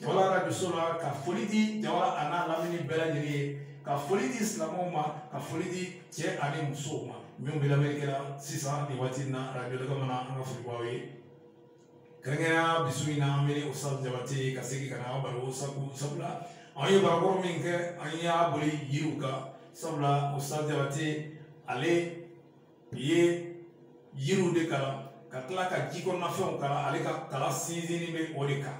jawala arajoso la ka foli di jawala a n'a lamini bɛɛ lajɛlen ye ka foli di silamɛw ma ka foli di cɛ ani musow ma minnu bɛ lamɛnni kɛra sisan nin waati in na arajo lɛgɛ mana an ka foli b'aw ye kɛrɛnkɛrɛnya bi su in na an bɛ ni usa jabate ye ka segin ka na an baro sabu sabula an ye baro kɔrɔ min kɛ an y'a boli yiriw kan sabula usa jabate ale ye yiriw de kalan ka tila ka ji kɔnɔnafɛnw kalan ale ka kalan sinsinni bɛ o de kan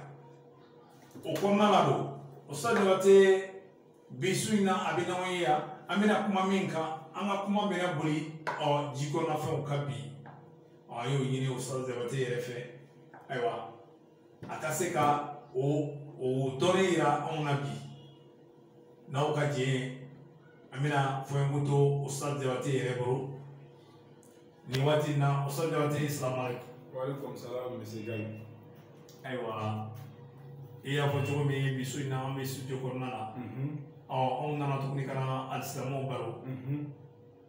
o kɔnɔna la don usa jabate bi su in na a bɛ n'an ye yan an bɛna kuma min kan an ka kuma bɛna boli ɔ ji kɔnɔnafɛnw kan bi ɔ an y'o ɲini usa jabate yɛrɛ fɛ ayiwa a ka se ka o o tɔɔrɔ yira anw na bi n'aw ka jɛ an bɛna fɔɲɔgɔn to usa jabate yɛrɛ bolo nin waati in na usa jabate salaam aleykum waaleykum salaam monsieur Gaye ayiwa i y'a fɔ cogo min bi su in na an bɛ studio kɔnɔna la ɔ anw nana tuguni ka na alisilamɛw baro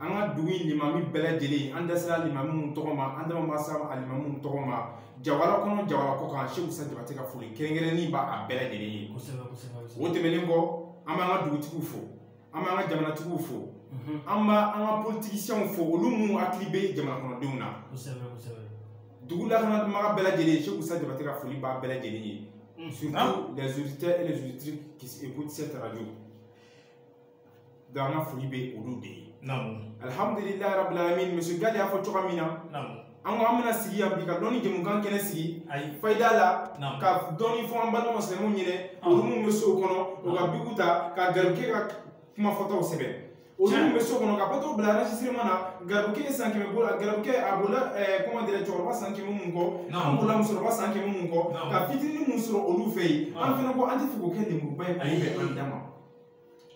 an ka dugu in limami bɛɛ lajɛlen an da sera limami minnu tɔgɔ ma an da ma se alimami minnu tɔgɔ ma jawala kɔnɔ jawala kɔ kan seku sa jabate ka foli kɛrɛnkɛrɛnnen b'a a bɛɛ lajɛlen ye o tɛmɛnen kɔ an b'an ka dugutigiw fo an b'an ka jamanatigiw fo an b'an ka politigisiyɛnw fo olu minnu hakili bɛ jamana kɔnɔdenw na dugu lakanatuma bɛɛ lajɛlen seku sa jabate ka foli b'a bɛɛ lajɛlen ye surtout les auditeurs et les auditrices qui écoutent cette radio donc an ka foli bɛ olu de ye alihamdulilayi rabilalamin monsieur gale y'a fɔ cogoya min na an ko an bɛna sigi yan bi ka dɔnni jɛmukan kɛnɛ sigi fayida la ka dɔnni fɔ an balima silamɛw ɲɛnɛ olu minnu bɛ sow kɔnɔ u ka biku ta ka garikɛ ka kuma fɔtaw sɛbɛn olu minnu bɛ so kɔnɔ ka apareyiw bila enregistrement na garibukɛ ye san kɛmɛ bolo la garibukɛ a bolila comment dirais cɛkɔrɔba san kɛmɛ mun kɔ an bolila musokɔrɔba san kɛmɛ mun kɔ ka fitinin mun sɔrɔ olu fɛ yen an fana ko an tɛ fɛ k'o kɛ lenburuba ye k'o bɛn an dan ma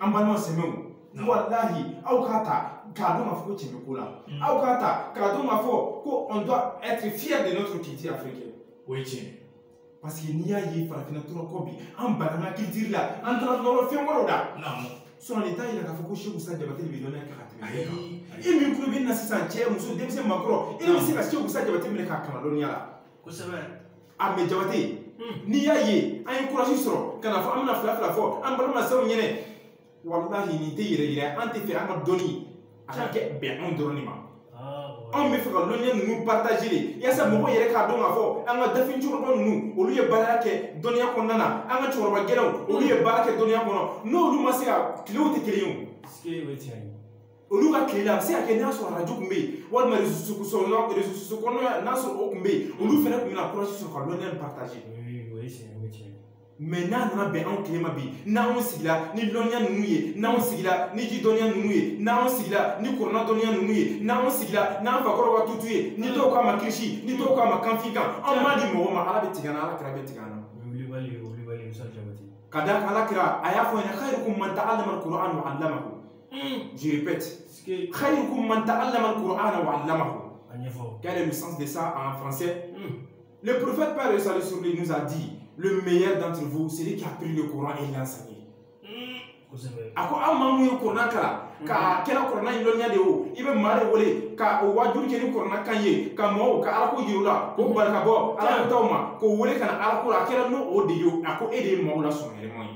an balima silamɛw walahi aw k'a ta k'a dɔn k'a fɔ ko cɛ bɛ ko la mm. aw k'a ta k'a dɔn k'a fɔ ko on doit être fier de notre culture africaine o ye tiɲɛ parce que n'i y'a ye farafinna tora kɔ bi an banna an culture la an taara nɔrɔ fɛn wɛrɛw la sɔrɔ nin t'a yira k'a fɔ ko seku sa jabate de bɛ dɔnniya kɛ ka tɛmɛ bɛɛ kan e min tulo bɛ n na sisan cɛ muso denmisɛn makɔrɔ e de bɛ se ka seku sa jabate minɛ k'a kalan dɔnniya la kosɛbɛ a mais jabate n'i y'a ye an ye kurasi sɔrɔ ka n'a fɔ an bɛna fila fila fɔ an balima silamɛw ɲɛnɛ walahi nin tɛ yɛrɛyira an tɛ fɛ an ka dɔnniya ka kɛ bɛn anw dɔrɔn de ma anw bɛ fɛ ka lɔnniya ninnu partage de yasa mɔgɔw yɛrɛ k'a dɔn k'a fɔ an ka dafin cɛkɔrɔba ninnu olu ye baara kɛ dɔnniya kɔnɔna na an ka cɛkɔrɔba galenw olu ye baara kɛ dɔnniya kɔnɔ n'olu ma se ka tilew tɛ kelen ye o olu ka tile la a bɛ se ka kɛ n'a sɔrɔ arajo tun bɛ yen walima sɔrɔ rezo kɔnɔna n'a sɔrɔ o tun bɛ yen olu fana tun bɛna kɔlɔsi sɔrɔ ka lɔnni partage mɛ n'a nana bɛn anw tile ma bi n'anw sigila ni lɔnniya ninnu ye n'anw sigila ni ji dɔnniya ninnu ye n'anw sigila ni kurana dɔnniya ninnu ye n'anw sigila n'an fakɔrɔ ka tutu ye ni dɔw k'a ma kirisi ni dɔw k'a ma kanfin kan an t'a di mɔgɔ ma ala bɛ tigɛ an na ala kira bɛ tigɛ an na ka da ala kira a y'a fɔ an ɲɛna khayrukum man ta'allama kurana wa allama Hmm. Je répète. khayrukum man ta'allama kurana wa allama. Quel est le sens de ça en français hmm. Le prophète paix et salut sur lui nous a dit le meilleur d'entre vous, c'est celui qui a appris le Coran et l'a enseigné. Hmm. a ko aw maa min ye kurana kalan k'a kɛra kurana in dɔnniya de o i bɛ maa de wele ka o waajuli kɛ ni kurana kan ye ka mɔgɔw ka alako yira u la k'o bali ka bɔ alako taw ma k'o wele ka na alako la a kɛra n'o o de ye a ko e de ye maaw la sɔn yɛrɛma ye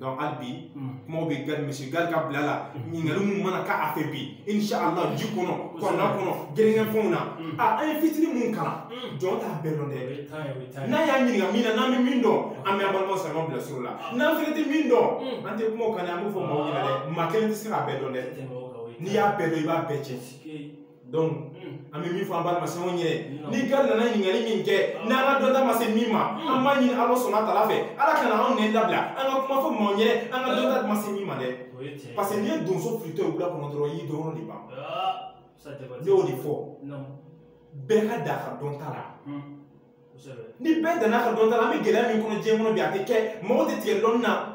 donc hali bi kumaw bɛ Gade monsieur Gade ka bila la ɲininkali minnu mana k'a fɛ bi inshallah ji kɔnɔ kurana kɔnɔ gɛrɛnkɛfɛnw na a an ye fitini minnu kalan jɔn t'a bɛɛ dɔn dɛ n'a y'a ɲininka min na n'an bɛ min dɔn an bɛ an balima silamɛw bila sira la n'an fana tɛ min dɔn an tɛ kuma o kan dɛ an b'o fɔ maaw ɲɛna dɛ maa kelen tɛ se k'a bɛɛ dɔn dɛ n'i y'a bɛɛ dɔn i b'a bɛɛ cɛ donc hmm. an bɛ min fɔ an balima silamɛw ɲɛna ni Gade nana ɲininkali min kɛ hmm. n'an ka dɔnta ma se min ma hmm. an b'a ɲini ala subaana tala fɛ ala kana anw nɛn labila an ka kuma fɔ maaw ɲɛ an ka dɔnta ma se min ma dɛ parce que n'i ye donso filitɔ ye wula kɔnɔ dɔrɔn i y'i dɔrɔn de ban ah, ne y'o de fɔ bɛɛ ka dan a ka dɔnta la ni bɛɛ danna a ka dɔnta la an bɛ gɛlɛya min kɔnɔ diɲɛ kɔnɔ bi a tɛ kɛ mɔgɔ tɛ tigɛ dɔnni na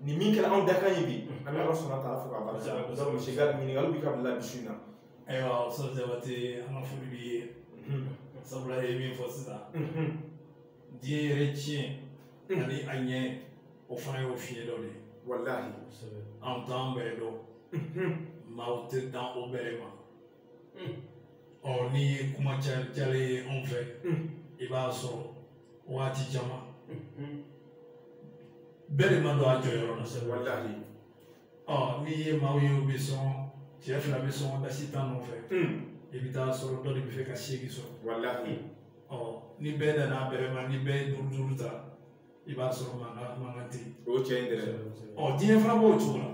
nin min kɛra anw dakan ye bi an bɛ ala subaana tala fo k'a barika donc monsieur Gade ɲininkali b'i ka bila bi su in na ayiwa sɔ jabate an ka foli b'i ye sabula e ye min fɔ sisan diɲɛ yɛrɛ tiɲɛ ani a ɲɛ o fana y'o fiɲɛ dɔ de ye walahi anw t'an bɛrɛ dɔn maaw tɛ dan o bɛrɛ ma ɔ n'i ye kuma cayalen ye anw fɛ i b'a sɔrɔ waati caman bɛɛ de ma don a jɔyɔrɔ la sɛ walahi ɔ n'i ye maaw ye u bɛ sɔngɔ cɛ fila bɛ sɔngɔ dasi tan nɔfɛ i bɛ taa sɔrɔ dɔ de b'a fɛ ka seegin sɔrɔ walahi ɔ ni bɛɛ danna a bɛrɛ ma ni bɛɛ ye duuru duuru ta i b'a sɔrɔ mankan mankan tɛ yen o cɛ in dɛrɛ ɔ diɲɛ fana b'o cogo la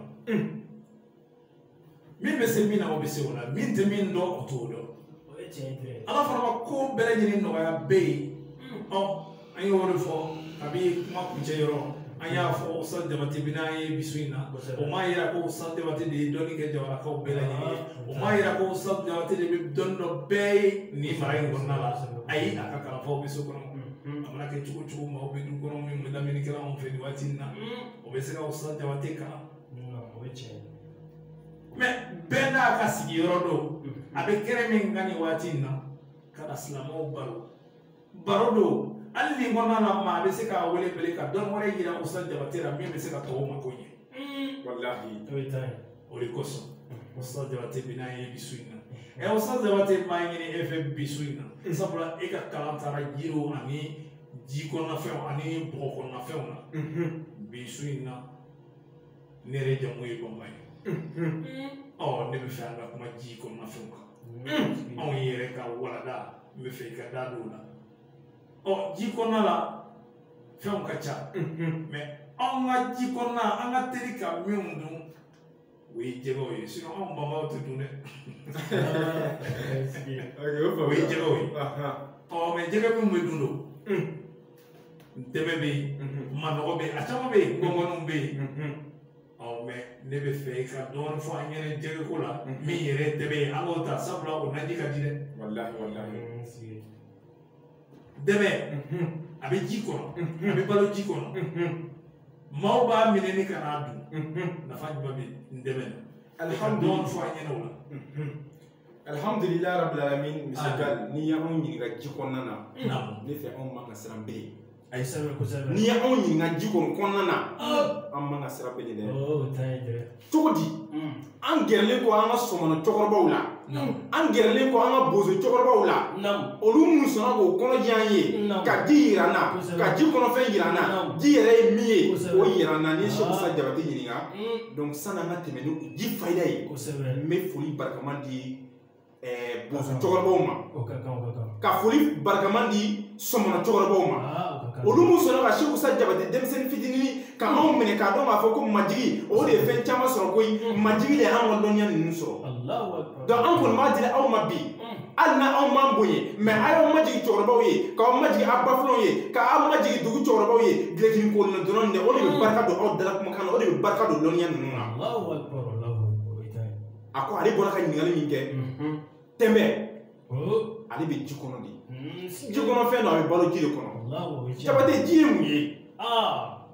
min bɛ se min na o bɛ se o la min tɛ min dɔn o t'o dɔn ala fana ma ko bɛɛ lajɛlen nɔgɔya bɛɛ ye ɔ an y'o de fɔ kabi kuma kuncɛ yɔrɔ an y'a fɔ ko san jabati bɛ n'an ye bi su in na o m'a yira ko san jabati de ye dɔnni kɛ jamanakaw bɛɛ lajɛlen ye o m'a yira ko san jabati de bɛ dɔnni dɔn bɛɛ ye nin mara in kɔnɔna la ayi a ka kalanfaw bɛ so kɔnɔ a mana kɛ cogo cogo maaw bɛ du kɔnɔ min bɛ lamini kɛ anw fɛ nin waati in na o bɛ se ka o san jabati kalan o ye tiɲɛ mɛ bɛɛ n'a ka sigiyɔrɔ don a bɛ kɛrɛ min kan nin waati in na ka na silamɛw baro baro don hali nin kɔnɔna na maa bɛ se k'a wele bele ka dɔn wɛrɛ yira usa jabate la min bɛ se ka tɔw mako ɲɛ walahi o ye tan ye o de kosɔn usa jabate bɛ n'a ye bi su in na ɛ usa jabate n b'a ɲini e fɛ bi su in na sabula e ka kalan taara jiriw ani ji kɔnɔnafɛnw ani bɔgɔ kɔnɔnafɛnw na bi su in na ne yɛrɛ jamu ye banba ye ɔ ne b'a fɛ an ka kuma ji kɔnɔnafɛnw kan anw yɛrɛ ka walada n b'a fɛ i ka da don o la ɔ ji kɔnɔna la fɛnw ka ca mɛ anw ka ji kɔnɔna an ka teli ka minnu dun o ye jɛgɛw ye sinɔn anw banbaw tɛ dun dɛ o ye jɛgɛw ye ɔ mɛ jɛgɛ minnu bɛ dun don ntɛmɛ bɛ yen mhm. manɔgɔ bɛ yen a caman bɛ yen kɔnkɔninw bɛ yen mhm. ɔ mɛ ne b'a fɛ i ka dɔɔnin fɔ an ɲɛna jɛgɛko la mhm. min yɛrɛ tɛmɛ ye an k'o ta sabula o naji ka di dɛ. walahi walahi. tɛmɛ a bɛ ji kɔnɔ a bɛ balo ji kɔnɔ maaw b'a minɛ ni ka n'a dun nafa jumɛn bɛ ntɛmɛ na. alihamudulila dɔɔnin fɔ an ɲɛna o la. alhamdulilayi rabbil alamin monsieur Gal n'i y'anw ɲininka ji kɔnɔna na Naamu. ne fɛ anw man ka siran bere a ye sɛbɛn kosɛbɛ n'i y'anw ɲininka ji kɔni kɔnɔna na Ah. an man ka siran bere dɛ o ta ye dɛ cogo di Mm. an gɛrɛlen kɔ an ka sɔmɔnɔ cɛkɔrɔbaw la Naamu. an gɛrɛlen kɔ an ka bozo cɛkɔrɔbaw la Naamu. olu minnu sɔnna k'o kɔnɔ jɛ an ye Naamu. ka ji yira an na Kosɛbɛ. ka ji kɔnɔfɛn yira an na Naamu. ji yɛrɛ ye min ye Kosɛbɛ. o yira an na n'i ye Naamu. sɛkusa jabate ɲininka Mm. donc sanni an ka tɛmɛ ni ji fayida ye kosɛbɛ n bɛ foli barikama di ɛɛ bozo cɛkɔrɔbaw ma o ka kan o ka kan ka foli barikama di sɔmɔnɔ cɛkɔrɔbaw ma aa o ka kan olu minnu sɔnna ka seku sa jabate denmisɛnnin fitinin ka anw minɛ k'a dɔn k'a fɔ ko majigin o de ye fɛn caman sɔrɔ koyi majigin de y'an ka dɔnniya ninnu sɔrɔ alahu akibaru donc an kɔni b'a dila aw ma bi hali na anw m'an bonya mɛ a y'aw majigin cɛkɔrɔbaw ye k'aw majigin aw bafilaw ye k'aw majigin dugu cɛkɔrɔbaw ye gilekini kolina dɔrɔn de o de bɛ barika don aw dala kumakan na o de bɛ barika don lɔnniya ninnu na a ko ale bɔra ka ɲininkali min kɛ tɛmɛ ale bɛ ji kɔnɔ de ji kɔnɔfɛn don a bɛ balo ji de kɔnɔ jabate ji ye mun ye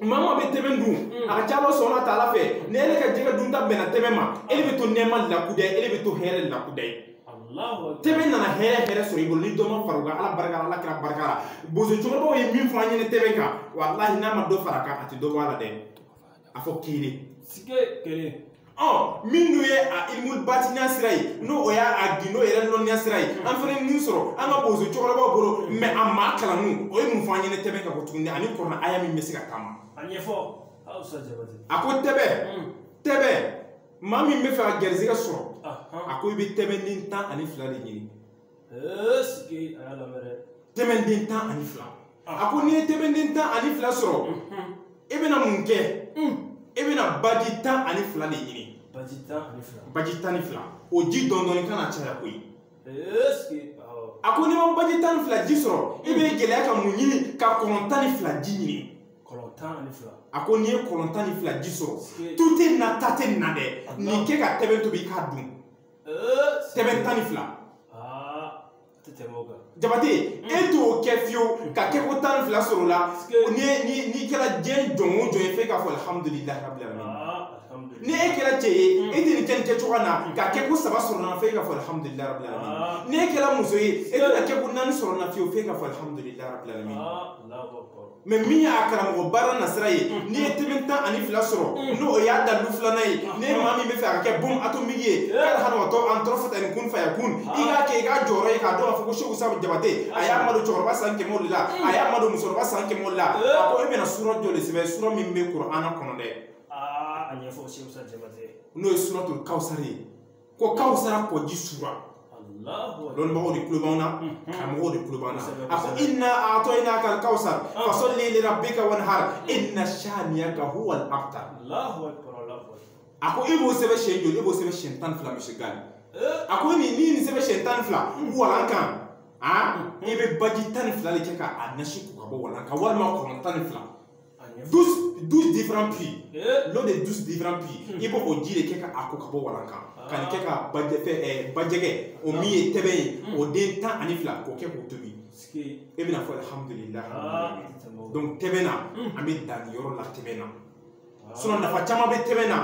maa maa bɛ tɛmɛ dun a ka ca ala sɔnna ta ala fɛ ni ele ka jɛgɛ dunta bɛnna tɛmɛ ma e bɛ to nɛɛma la kudayi e bɛ to hɛrɛ la kudayi tɛmɛ nana hɛrɛ hɛrɛ sɔrɔ i bolo ni dɔ ma fara o kan ala barika la ala kira barika la bozo cɛkɔrɔbaw ye min fɔ an ɲɛna tɛmɛ kan walahi n'a ma dɔ fara a kan a tɛ dɔ bɔ a la dɛ a fɔ kelen sike kelen ɔ minnu ye a ilimu batiniya sira ye n'o o y'a a gindo yɛrɛ lɔnniya sira ye an fana ye min sɔrɔ an ka bozo cɛkɔrɔbaw bolo mɛ a maa kalannu o ye mun fɔ an ɲɛnɛ tɛbɛn ka ko tuguni ani kurana aya min bɛ se ka taama a ɲɛfɔ segu sa jabate a ko tɛbɛn tɛbɛn maa min bɛ fɛ ka garizigɛ sɔrɔ a ko i bɛ tɛbɛnden tan ani fila de ɲini tɛbɛnden tan ani fila a ko n'i ye tɛbɛnden tan ani fila sɔrɔ e bɛna mun kɛ e bɛna baji tan ani fila de ɲini baji tan ani fila baji tan ni fila o ji dɔndɔni kana caya koyi a ko n'i ma baji tan ni fila ji sɔrɔ e b'i gɛlɛya ka mun ɲini ka kɔlɔn tan ni fila ji ɲini kɔlɔn tan ani fila a ko n'i ye kɔlɔn tan ni fila ji sɔrɔ tu tɛ na ta tɛ na dɛ nin kɛ ka tɛbɛn tobi k'a dun tɛbɛn tan ni fila jabate e t'o kɛ fiyewu ka kɛ ko tan ni fila sɔrɔ la n'i kɛra diɲɛ jɔn o jɔn ye f'e k'a fɔ alihamudulilayi rabili alamin ni e kɛra cɛ ye e tɛ nin kɛ nin kɛ cogoya na ka kɛ ko saba sɔrɔ na f'e k'a fɔ alihamudulilayi rabili alamin ni e kɛra muso ye e tɛna kɛ ko naani sɔrɔ na fiyewu f'e k'a fɔ alihamudulilayi rabili alamin mɛ min y'a karamɔgɔ baara nasira ye mm. n'i ye tɛbɛn tan ani fila sɔrɔ mm. n'o o y'a dalu filanan ye mm. ni maa min bɛ fɛ a ka kɛ bom atomiki ye kari hanamatɔ an tɔrɔ fata ni kun faya kun ah. i k'a kɛ i k'a jɔyɔrɔ ye k'a dɔn k'a fɔ ko segu sa jabate a y'a madon cɛkɔrɔba san kɛmɛ o de la a y'a madon musokɔrɔba san kɛmɛ o de la a ko e bɛna sura jɔn de sɛbɛn sura min bɛ kurana kɔnɔ dɛ ah, a ɲɛfɔ segu sa jabate n'o ye suratul kawusari ye ko kawsara kɔji sura lɔnnibagaw de tulo b'an na karamɔgɔw de tulo b'an na a ko inna a'tɔyina kal kawsar fasalli li rabbika wanhar inna shaniyaka huwa al abtar a ko i b'o sɛbɛn siɲɛ joli i b'o sɛbɛn siɲɛ tan ni fila misi gari a ko n'i ye nin sɛbɛn siɲɛ tan ni fila walan kan i bɛ baji tan ni fila de kɛ ka nasi ko ka bɔ walan kan walima kɔlɔn tan ni fila 12 12 différents puits eh? l'eau de 12 différents puits hmm. i b'o o ji de kɛ ka a ko ka bɔ walan kan ah. ka nin kɛ ka bajɛfɛ ɛɛ eh, bajɛgɛ o min ye tɛbɛn ye hmm. o den tan ani fila k'o kɛ k'o tobi e bɛna fɔ alhamdulilah ah. donc tɛbɛn na hmm. an bɛ dan nin yɔrɔ la tɛbɛn na ah. sinon nafa caman bɛ tɛbɛn na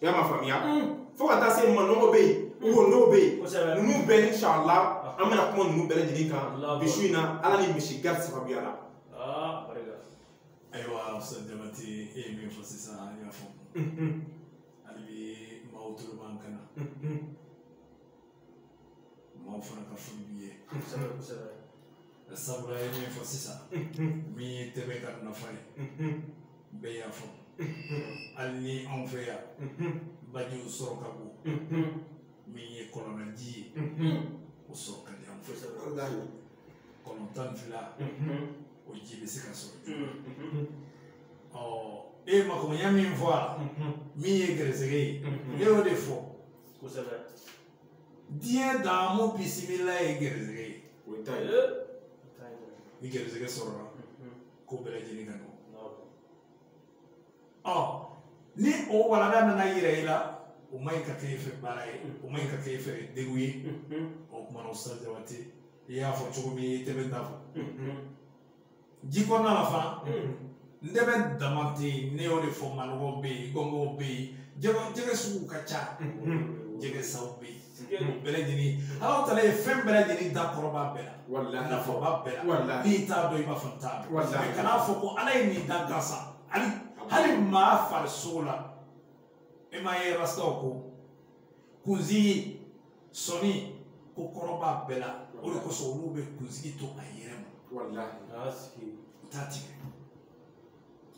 i y'a ma faamuya fo ka taa se manɔgɔ bɛ yen wo n'o bɛ yen ninnu bɛɛ inshallah an bɛna kuma ninnu bɛɛ lajɛlen kan bi su in na ala ni misi gari sababuya la aa barika ayiwa musa jabate e ye min fɔ sisan an y'a faamu hali bi maaw tolo b'an kan na maaw fana ka foli b'i ye kosɛbɛ kosɛbɛ sabula i ye min fɔ sisan min ye tɛbɛn ka nafa ye bɛɛ y'a faamu hali ni anw fɛ yan bajiw sɔrɔ ka go min ye kɔlɔnlaji ye o sɔrɔ ka di an fɛ kosɛbɛ kɔnɔntɔn fila o ji bɛ se ka sɔrɔ joona ɔ e ye makoɲɛ min fɔ a la min ye gɛrɛsɛgɛ ye ne y'o de fɔ kosɛbɛ diɲɛ daamu bisimila ye gɛrɛsɛgɛ ye o ye ta ye ni gɛrɛsɛgɛ sɔrɔla ko bɛɛ lajɛlen ka nɔgɔn ɔ ni o walanda nana yira i la o man ɲi ka kɛ e fɛ baara ye o man ɲi ka kɛ e fɛ degun ye o kuma na o sa jabate i y'a fɔ cogo min i ntɛbɛn ta fɔ ji kɔnɔna la fana ntɛbɛn dama tɛ yen ne y'o de fɔ manɔgɔ bɛ yen kɔnkɔn bɛ yen jɛgɛ jɛgɛ sugu ka ca jɛgɛ saw bɛ yen bɛɛ lajɛlen ala taala ye fɛn bɛɛ lajɛlen da kɔrɔ b'a bɛɛ la walahi nafa b'a bɛɛ la walahi n'i t'a dɔn i b'a fɔ n t'a dɔn walahi kan'a fɔ ko ala ye nin dan gansa hali hali maa farisogo la e m'a ye rastaw ko kunsigi sɔni ko kɔrɔ b'a bɛɛ la o de kosɔn olu bɛ kunsigi to a yɛrɛ ma walahi u t'a tigɛ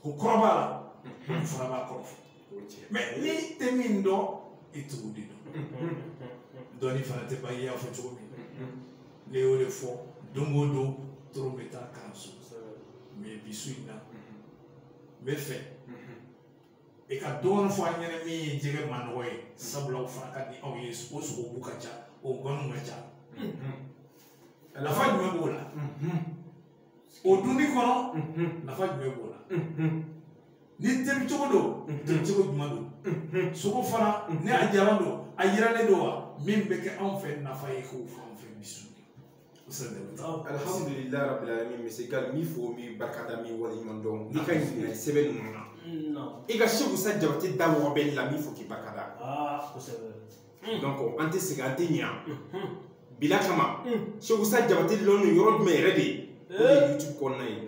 o kɔrɔ b'a la o fana b'a kɔrɔ fɔ mɛ n'i tɛ min dɔn i t'o de dɔn dɔnni fana tɛ ban i y'a fɔ cogo min ne y'o de fɔ don o don tulo bɛ taa kalanso mɛ bi su in na n b'a fɛ i ka dɔɔnin fɔ an ɲɛna min ye jɛgɛ manɔgɔ ye sabula o fana ka di aw ye o sogobu ka ca o gɔniw ka ca nafa jumɛn b'o la o dunni kɔnɔ nafa jumɛn b'o la ni tobi cogo don tobi cogo jumɛn don sogo fana ni a jalan don a yiranlen don wa min bɛ kɛ anw fɛ nafa ye k'o fɔ anw fɛ misi alhamdulillah rabbil alamin misi ka n b'i fo n b'i barkada n b'i waleɲumandɔn ni ka ɲinɛ sɛbɛn ninnu na i ka seku sa jabate da mɔgɔ bɛ la n b'i fo k'i barkada ah kosɛbɛ Hmm. donc an tɛ segin an tɛ ɲɛ hmm. bila kama hmm. seku sa jabate lɔnni yɔrɔ jumɛn yɛrɛ de ye o de ye eh. youtube kɔnɔna ye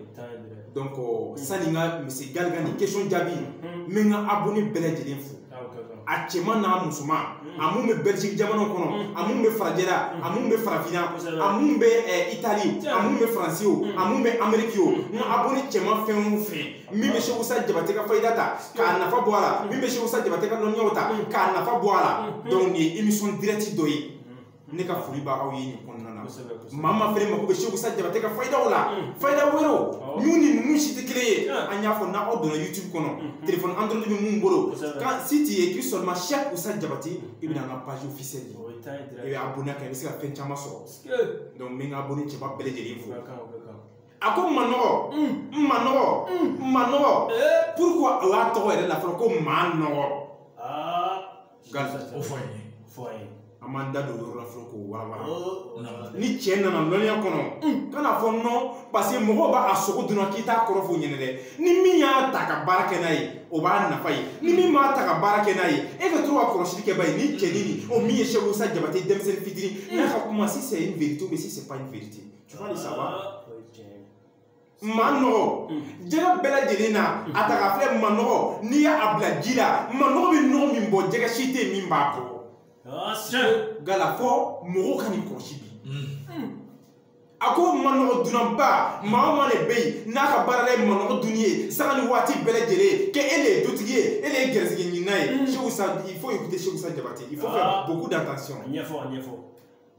donc euh, sani n ka misi gali ka nin question jaabi n bɛ n ka abonné bɛɛ lajɛlen fo ah, a cɛman n'a musoman a min bɛ belgique jamana kɔnɔ a min bɛ farajɛla a min bɛ farafinna a min bɛ itali a min bɛ faransi o a min bɛ ameriki o n ka abonné cɛman fɛn o fɛn min bɛ Seku Sa Jabate ka fayida ta k'a nafa bɔ a la min bɛ Seku Sa Jabate ka dɔnniyaw ta k'a nafa bɔ a la donc nin ye émission direct dɔ ye ne ka foli b'aw ye nin kɔnɔna na maa min fɛnɛ mako bɛ Seku Sa Jabate ka fayidaw la fayida wɛrɛw minnu ni ninnu si tɛ kelen ye an y'a fɔ n'aw donna YouTube kɔnɔ téléphone Android bɛ minnu bolo kan si t'i ye k'i sɔrɔ Seku Sa Jabate i bɛna an ka page officielle ye i bɛ abonné kɛ i bɛ se ka fɛn caman sɔrɔ donc n bɛ n ka abonné cɛba bɛɛ lajɛlen fo. a ko manɔgɔ manɔgɔ manɔgɔ pourquoi o y'a tɔgɔ yɛrɛ la fɔlɔ ko maa nɔgɔ o fɔ ye fɔ ye an m'an da don yɔrɔ la fɔlɔ k'o walawala ni cɛ nana lɔnniya kɔnɔ ka n'a fɔ nɔ parce que mɔgɔw b'a a sogo dunna k'i t'a kɔrɔ f'u ɲɛna dɛ ni min y'a ta ka baara kɛ n'a ye o b'a nafa ye ni min m'a ta ka baara kɛ n'a ye e ka to ka kɔlɔsili kɛ ba ye ni cɛnin nin o min ye seku sa jabate denmisɛnnin fitinin n'a ka kuma si c'est une vérité ou bien si c'est pas une vérité tu vois le savoir manɔgɔ jɛgɛ bɛɛ lajɛlen na a taa ka filɛ manɔgɔ n'i y'a bila ji la manɔgɔ bɛ nɔgɔ min bɔ jɛgɛ si tɛ min b'a bɔ gala fɔ mɔgɔw ka nin kɔlɔsi bi a ko manɔgɔ dunnaba maa o maa de bɛ yen n'a ka baara ye manɔgɔ dunni ye sanga ni waati bɛɛ lajɛlen kɛ e de ye dutigi ye e de ye gɛrɛsɛgɛ ɲinina ye seku sa il faut écouter seku sa jabate il faut faire beaucoup d'attention ɲɛfɔ ɲɛfɔ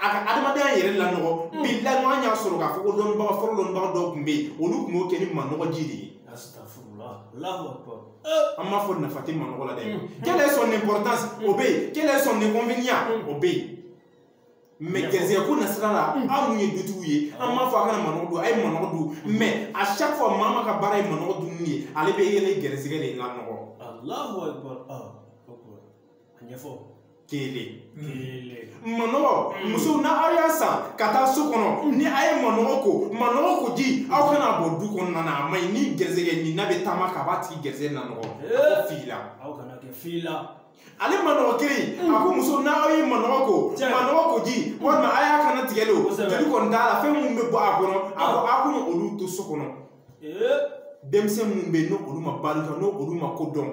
a ka adamadenya yɛrɛ lanɔgɔ bi laɲɔgɔn y'a sɔrɔ k'a fɔ ko dɔnnibaga fɔlɔ dɔnnibaga dɔw tun bɛ yen olu tun b'o kɛ ni manɔgɔ ji de ye an m'a fɔ nafa tɛ manɔgɔ la dɛ quelle est son importance o bɛ yen quelle est son inconvénient o bɛ yen mais gɛrɛsɛgɛ ko nasira la aw mun ye dutigiw ye an m'a fɔ a kana manɔgɔ dun a ye manɔgɔ dun mais à chaque fois maa min ka baara ye manɔgɔ dunni ye ale bɛ a yɛrɛ gɛrɛsɛgɛ de lanɔgɔ ɲɛfɔ kelen manɔgɔ mm. musow n'aw y'a san ka taa so kɔnɔ mm. ni a ye manɔgɔ ko manɔgɔ ko ji aw mm. kana bɔn du kɔnɔna na a ma ɲi ni gɛrisɛgɛ ɲinina bɛ taama a kan a b'a tigi gɛrisɛgɛ nanɔgɔ eh. fili la aw kana kɛ fili la ale manɔgɔ kelen a ko musow n'aw ye manɔgɔ ko manɔgɔ ko ji walima a y'a kannatigɛ le o joli kɔni t'a la fɛn minnu bɛ bɔ a kɔnɔ a ko a kana olu to so kɔnɔ denmisɛn minnu bɛ yen ni olu ma baara kɛ n'o olu ma ko dɔn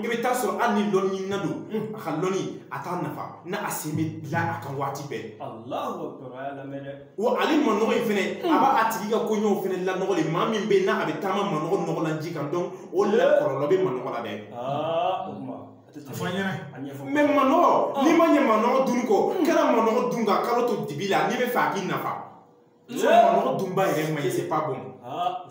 i bɛ taa sɔrɔ hali ni lɔnnina don a ka lɔnni a t'a nafa n'a sen bɛ bila a kan waati bɛɛ wa ale manɔgɔ in fɛnɛ a b'a tigi ka koɲɛw fɛnɛ lanɔgɔ le maa min bɛ yen n'a a bɛ taama manɔgɔ nɔgɔlan ji kan donc o la kɔlɔlɔ bɛ manɔgɔ la dɛ mais manɔgɔ n'i ma ɲɛ manɔgɔ dun kɔ kana manɔgɔ dun ka kalo to dibi la n'i b'a fɛ a k'i nafa manɔgɔ dun b'a yɛrɛ ma ye c'est pas bon ah,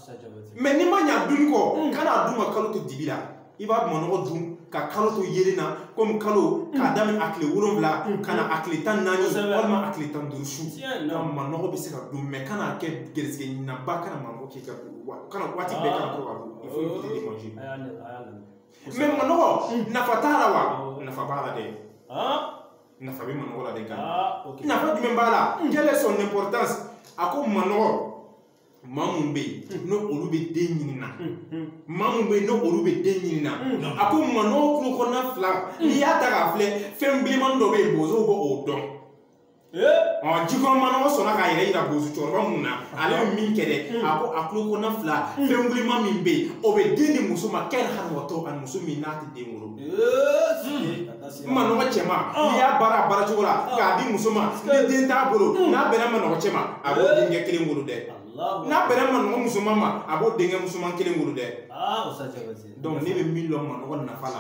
mais n'i ma ɲɛ a dun kɔ hmm. kana a dun ka kalo to dibi la i b'a dun manɔgɔ dun ka kalo to yeelen na komi kalo k'a hmm. daminɛ a tile wolonwula hmm. ka na a tile tan naani walima a tile tan duuru su ka manɔgɔ bɛ se ka dun mais kana kɛ gɛrisigɛ ɲininaba kana manɔgɔ k'i ka kana waati bɛɛ kana to ka dun il faut éviter de manger mais manɔgɔ nafa t'a la wa nafa b'a la dɛ nafa bɛ manɔgɔ la de kan ah, nafa jumɛn b'a la hmm. quelle est son importance a ko manɔgɔ maa mun bɛ yen hmm. n'olu bɛ den ɲini na hmm, maa mun bɛ yen n'olu bɛ den ɲini na a ko manɔgɔ tulo kɔnɔna fila n'i y'a ta k'a filɛ fɛn bilenmani dɔ bɛ yen bozow bɛ o dɔn eh? ɔ jikɔrɔ manɔgɔ sɔnna k'a yɛrɛ yira bozo cɛkɔrɔba min na ale bɛ min kɛ dɛ a ko a tulo kɔnɔna fila fɛn wulenman min bɛ yen o bɛ den di muso ma kɛli hali wa tɔ ani muso min n'a tɛ den wolo eh, n manɔgɔ cɛman n'i y'a baara a baara cogo la k'a di muso ma ni den t'a bolo n'a bɛnna manɔgɔ cɛ ma a b'o denkɛ kelen wolo dɛ n'a bɛnna manɔgɔ musoman ma a b'o denkɛ musoman kelen wolo dɛ donc ne bɛ min dɔn manɔgɔ nafa la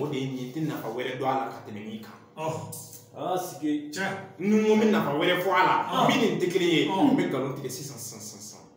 o de ye nin ye n tɛ nafa wɛrɛ dɔn a la ka tɛmɛ nin kan ni n ko n bɛ nafa wɛrɛ fɔ a la min nin tɛ kelen ye n bɛ nkalon tigɛ sisan sisan sisan